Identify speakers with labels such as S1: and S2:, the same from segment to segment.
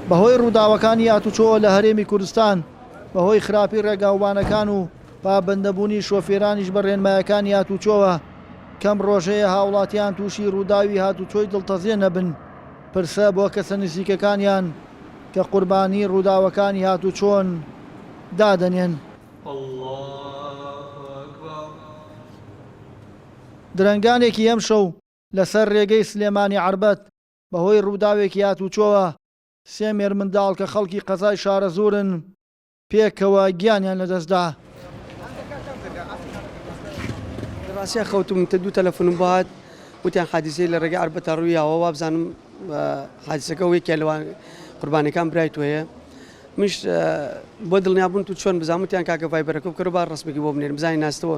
S1: بەهۆی ڕووداوەکانی ئاتوچۆ لە هەرێمی کوردستان، بەهۆی خراپی ڕێگاوبانەکان و پابەندەبوونی شۆفێرانیش بە ڕێنمایەکانی ئاتوچۆوە، کەم ڕۆژەیە هاوڵاتیان تووشی ڕووداوی هاتوچۆی دڵتەزێن نەبن، پرسە بۆ کەسە نزیکەکانیان کە قوربانی ڕووداوەکانی هاتوچۆن دادەنێن. درەنگانێکی ئەمشەو لەسەر رێگەی سلێمانی عەربەت بەهۆی رووداوێکی هاتووچۆوە سێ مێرمنداڵ کە خەڵکی قەزای شارەزوورن پێکەوە گیانیان لەدەستدا.
S2: لەباسیا خەوتم تە دوو تەلەفونم بۆ هات وتیان حادیسەی لە ڕێگەی عەربەتا ڕوویاوە وابزانم حادیسەکە و یەکێ لەوان قوربانەکان برای تۆیە مش بۆ دڵنیابوون تو چۆن بزانوتیان کاکە ڤایبەرەکە بکەرو با ڕسمێکی بۆ بنێرم بزانین ناستەوە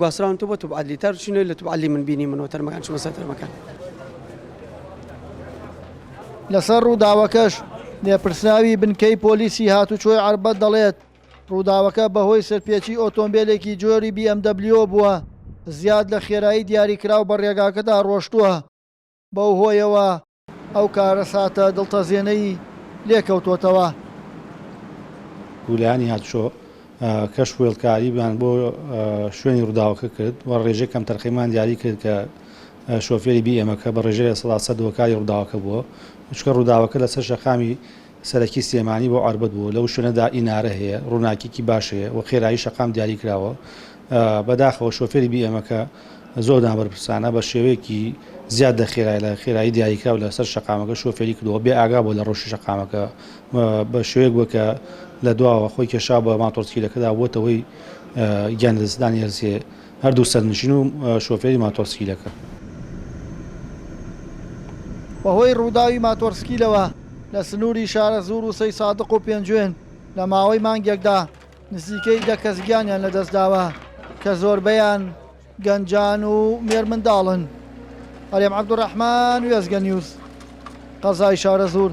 S2: گواستراونەتەوە بۆ توب عەدلی تا چوونەوەی لە توب عەدلی من بینیمنەوە تەرمەکان چوومە سەر تەرمەکان.
S1: لەسەر ڕووداوەکەش لێپرسراوی بنکەی پۆلیسی هاتوچۆی عەربەت دەڵێت، ڕووداوەکە بەهۆی سەرپێچی ئۆتۆمبێلێکی جۆری بی ئێم دەبلیۆ بووە، زیاد لە خێرایی دیاریکراو بە ڕێگاکەدا ڕۆشتووە. بەو هۆیەوە ئەو کارەساتە دڵتەزێنەی لێ کەوتۆتەوە.
S3: گوولانی هاتشۆ کەش وێڵکارییان بۆ شوێنی ڕووداوەکە کرد و ڕێژەی کەمتەرخەمیان دیاری کرد کە شۆفێری بی ئێمەکە بە ڕێژەی لە سەدا سەد هۆکاری ڕووداوەکە بووە، چونکە ڕووداوەکە لەسەر شەقامی سەرەکی سلێمانی بۆ عەربەت بووە لەو شوێنەدا ئینارە هەیە ڕووناکیکی باش هەیە وە خێرایی شەقام دیاری کراوە بە داخەوە شۆفێری بی ئێمەکە زۆر نابەرپرسانە بە شێوەیەکی زیاد لە خێرای لە خێرایی دیاریکراو لە سەر شەقامەکە شۆفێری کردەوە بێ ئاگا بۆ لە ڕۆشی شەقامەکە بە شێوەیەک بووە کە لە دواوە خۆی کێشا بە ماتۆڕسکیلەکەدا بۆتەوەی گیان لەدەستدانی هەرسێ هەردوو سەرنشین و شۆفێری ماتۆڕسکیلەکە.
S1: بەهۆی رووداوی ماتۆڕسکیلەوە لە سنووری شارەزوور و سەیسادق و پێنجوێن لە ماوەی مانگێکدا نزیکەی دە کەس گیانیان لەدەستداوە کە زۆربەیان گەنجان و مێرمنداڵن. هەرێم عەبدولڕەحمان، وێستگە نیوز، قەزای شارەزوور.